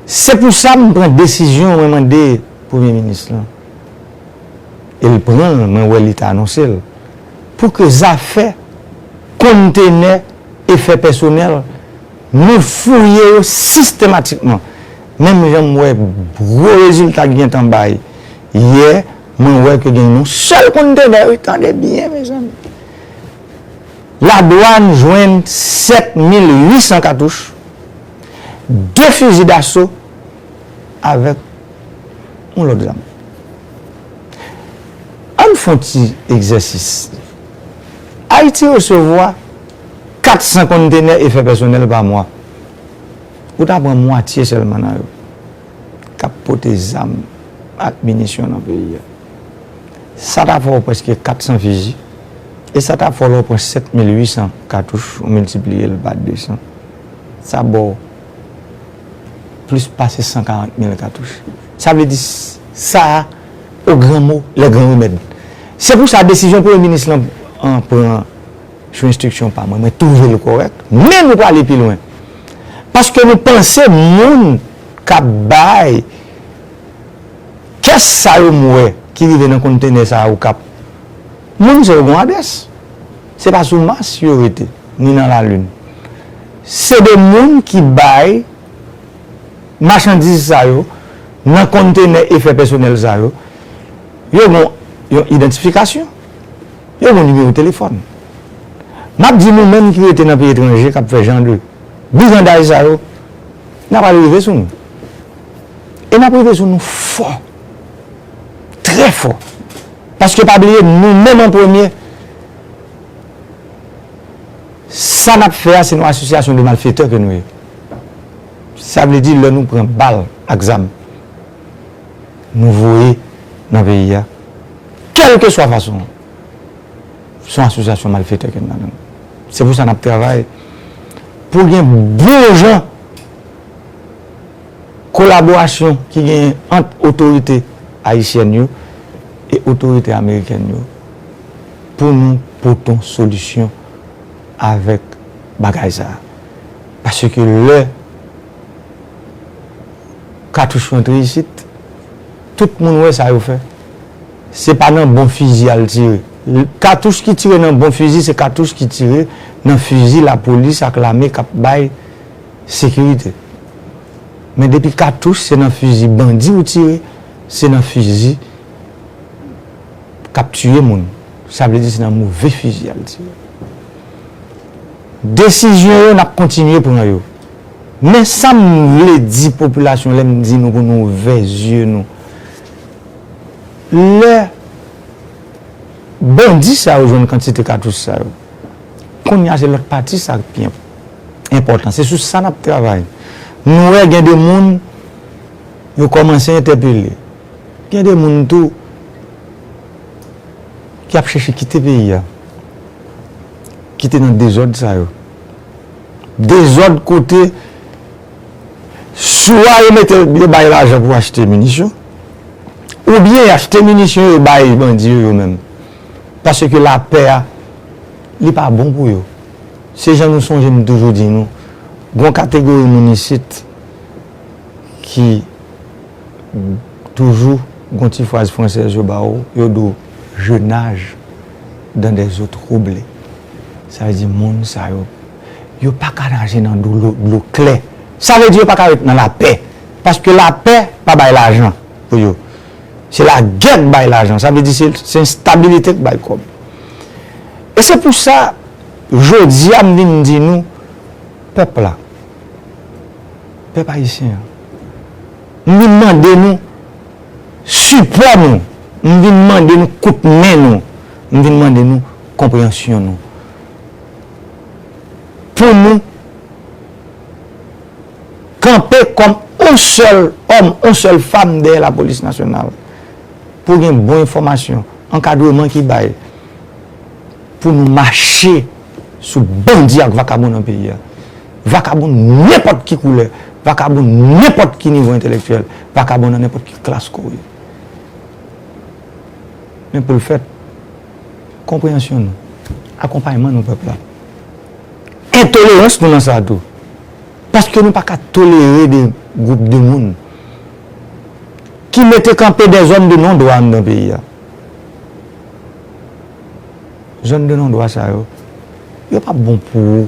Se pou sa m pran desizyon mwen mande Premye Minis lan, e l pran l, mwen wè li te anonse l, pou ke zafè konntenè efè pèsonèl, nou fouye yo sistematikman. Menm jan m wè gwo rezilta ki gen tan bay yè, mwen wè ke gen yon sèl konntenè, wi, tande byen mezanmi, ladwàn jwenn 7 mil 800 katouch, 2 fizi daso avèk yon lòt zam. Ann fè yon ti egzèsis. Ayiti resevwa 400 konntenè efè pèsonèl pa mwa. Ou ta pran mwatye sèlman nan yo k ap pote zam ak minisyon nan peyi a. Sa ta fè w prèske 400 fizi e sa ta fè w lè w pran 7800 katouch ou miltipliye l pa 200. sa ba w plis pase 140 mil katouch. Sa vle di sa o gran mo, lè gran remèd. Se pou sa desizyon Premye Minis lan pran sou enstriksyon pa mwen, mwen twouve l kòrèk. Men nou prale pi lwen. Paske nou panse moun k ap bay kès sa yo m wè ki rive nan konntenè sa yo Okap, moun sa yo gen yon adrès. Se pa sou Mars yo rete, ni nan la lune. Se de moun ki bay machandiz sa yo nan kontenè efè pèsonèl sa yo, yo gon yon idantifikasyon, yo gon nimewo telefòn. M ap di nou menm ki rete nan peyi etranje k ap fè jan de brigandaj sa yo, n a pral rive sou nou. E n ap rive sou nou fò, trè fò. Paske pa bliye nou menm an premye. Sa nap fè a se yon asosyasyon de malfetè ke nou ye. Sa vle di lè nou pran bal ak zam nou voye nan peyi a, kelke swa fason an, son asosyasyon malfetè ke nou ladan. Se pou sa nap travay pou gen bon jan kolaborasyon ki genyen ant otorite ayisyèn yo e otorite amerikèn yo. pou nou pote yon solisyon avèk bagay sa. Paske lè katouch rantre isit, tout moun wè sa yo fè. Se pa nan bon fizi al tire. Katouch ki tire nan bon fizi se katouch ki tire nan fizi lapolis ak lame k ap bay sekirite. Men depi katouch se nan fizi bandi ou tire, se nan fizi. kap tiye moun sa vle di se nan move fizi yal tire desizyon yo nap kontinye pran yo men sam vle di popilasyon lèm di nou pou nou ouvè zye nou lè bandi sa yo jwenn kantite katouch sa yo kounya se lòt pati sa ki pi enpòtan se sou sa nap travay nou wè gen de moun yo kòmanse entèpele. Gen de moun tou ki ap chèche kite peyi a, kite nan dezòd sa yo. Dezòd kote swa yo mete yo bay lajan pou achte minisyon, oubyen y achte minisyon yo bay bandi yo yo menm. Paske lapè a, li pa bon pou yo. Se jan nou sonje m toujou di nou, gon kategori moun isit ki. Toujou gon ti fraz fransèz yo ba ou, yo di w, Je nage dans des eaux troubles. Sa vle di moun sa yo, yo pa ka naje nan dlo klè. Sa vle di yo pa ka ret nan lapè. Paske lapè pa bay lajan pou yo. Se lagè k bay lajan. Sa vle di se enstabilite k bay kòb. E se pou sa, jodi a m vin di nou, pèp la. Pèp Ayisyen an, m vin mande nou sipò nou, m vin mande nou kout men nou, m vin mande nou konpreyansyon nou pou nou kanpe kòm on sèl òm, on sèl fam dèyè Lapolis Nasyonal pou gen bon enfòmasyon, ankadreman ki bay pou nou mache. sou bandi ak vakabon nan peyi a. Vakabon nenpòt ki koulè, vakabon nenpòt ki nivo entelektyèl, vakabon nan nenpòt ki klas ke w ye. Men pou l fèt, konpreyansyon nou, akonpayman nou pèp la, entolerans nou nan sa tou, paske nou pa ka tolere de gwoup de moun ki mete kanpe dèzòm de non dwa anndan peyi a. Zòn de non dwa sa yo, yo pa bon pou ou.